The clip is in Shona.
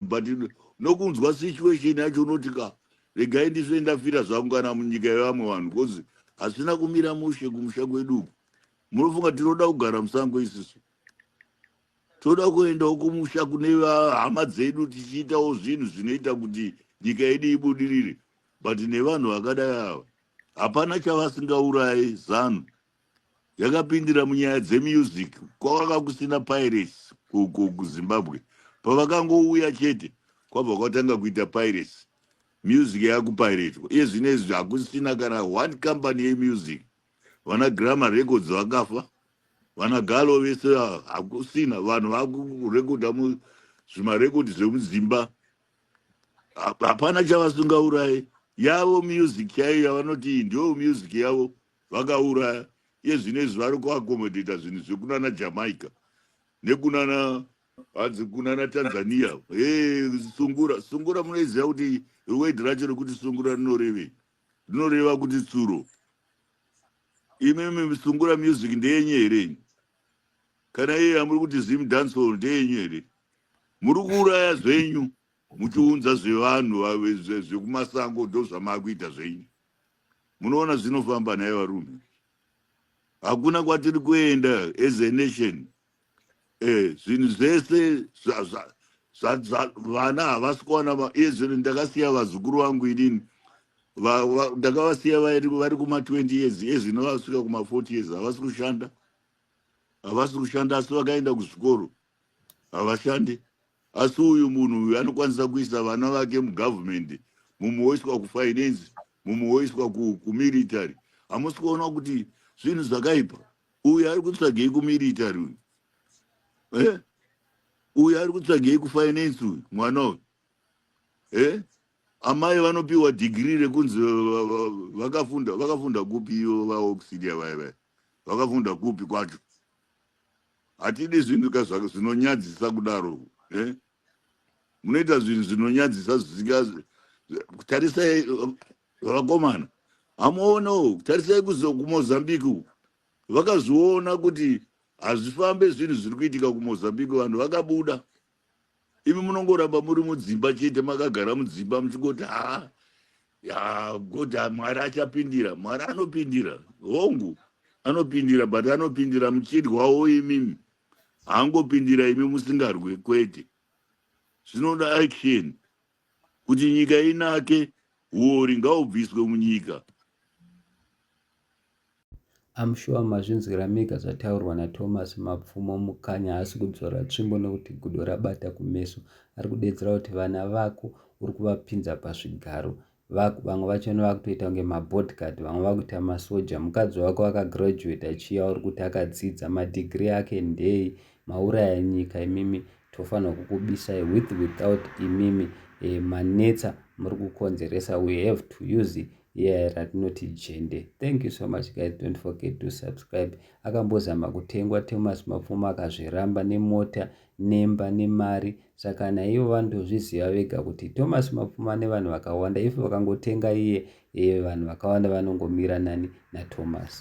but nokunzwa situation yacho unoti ka regai ndisve ndafira zvangu kana munyika yevamwe vanhu bcause hasina kumira mushe kumusha kwedu uku munofunga tinoda kugara musango isisu toda kuendawo kumusha kune hama dzedu tichiitawo zvinhu zvinoita kuti nyika yedu ibudirire but nevanhu vakadai ava hapana chavasingaurayi zanu yakapindira munyaya dzemusic kwakanga kusina pirates uko kuzimbabwe pavakangouya chete kwabva kwatanga kuita pirates music yakupiratwa iye zvino izvi hakusina kana one company yemusic vana grammar records vakafa vana galo vese hakusina vanhu vakurekodha zvimarekodhi zvemuzimba hapana chavasungaurayi yavo music chaiyo yavanoti ndiyo music yavo vakauraya iye zvino izvi vari kuaccommodator zvinhu zvekunana jamaica nekunana hanzi kunana tanzania he sungura sungura munoiziva kuti word racho rekuti sungura rinorevei rinoreva kuti tsuro imimi sungura music ndeyenye here ini kana iye amuri kuti zim dancehall ndeyenyu here muri kuuraya zvenyu muchiunza zvevanhu zvekumasango ndozvamaakuita zvenyu munoona zvinofamba nhai varume hakuna kwatiri kuenda as a nation eh, zvinhu zvese vana havasi kuwana iye zvino ndakasiya vazukuru vangu inini ndakavasiya vari kuma20 years ezvino vasvika kuma40 years havasi kushanda havasi kushanda asi vakaenda kuzvikoro havashandi asi uyu munhu uyu anokwanisa kuisa vana vake mugovernment mumwe woiswa kufinance mumwe woiswa kumilitary hamusi kuona kuti zvinhu zvakaipa uyu ari kutsvagei kumilitary uyu eh? uyu ari kutsvagei kufinance uyu mwana uyu eh? amai vanopiwa dhigiri rekunzi vakafunda vakafunda kupi ivo vaoxidia vaya vaya vakafunda kupi kwacho hatidi zvinhu ka zvaka zvinonyadzisa kudaro eh? munoita zvinhu zvinonyadzisa zvisinga tarisai vakomana hamuone uku tarisai kumozambique uku vakazviona kuti hazvifambe zvinhu zviri kuitika kumozambique vanhu vakabuda imi munongoramba muri mudzimba chete makagara mudzimba muchingoti haa ya god ah, mwari achapindira mwari anopindira hongu anopindira but anopindira muchidwawo imimi haangopindira imi musingarwe kwete zvinoda action kuti nyika inake huori ngahubviswe munyika I'm sure mazvinzwira mega zvataurwa naThomas Mapfumo Mukanya haasi kudzora tsvimbo nekuti gudo rabata kumeso ari kudedzera kuti vana vako uri kuvapinza pazvigaro vako vamwe vachona vakutoita kunge mabodyguard vamwe vakuita masoja mukadzi wako akagraduate achiya uri kuti akadzidza madigiri ake ndei mauraya nyika imimi tofanirwa kukubisai with without imimi eh, manetsa muri kukonzeresa we have to use yeah, ratinoti jende thank you so much guys don't forget to subscribe akambozama kutengwa thomas mapfuma akazviramba nemota nemba nemari saka naivo vanotozviziva vega kuti thomas mapfuma nevanhu vakawanda if vakangotenga iye e vanhu vakawanda vanongomira nani nathomas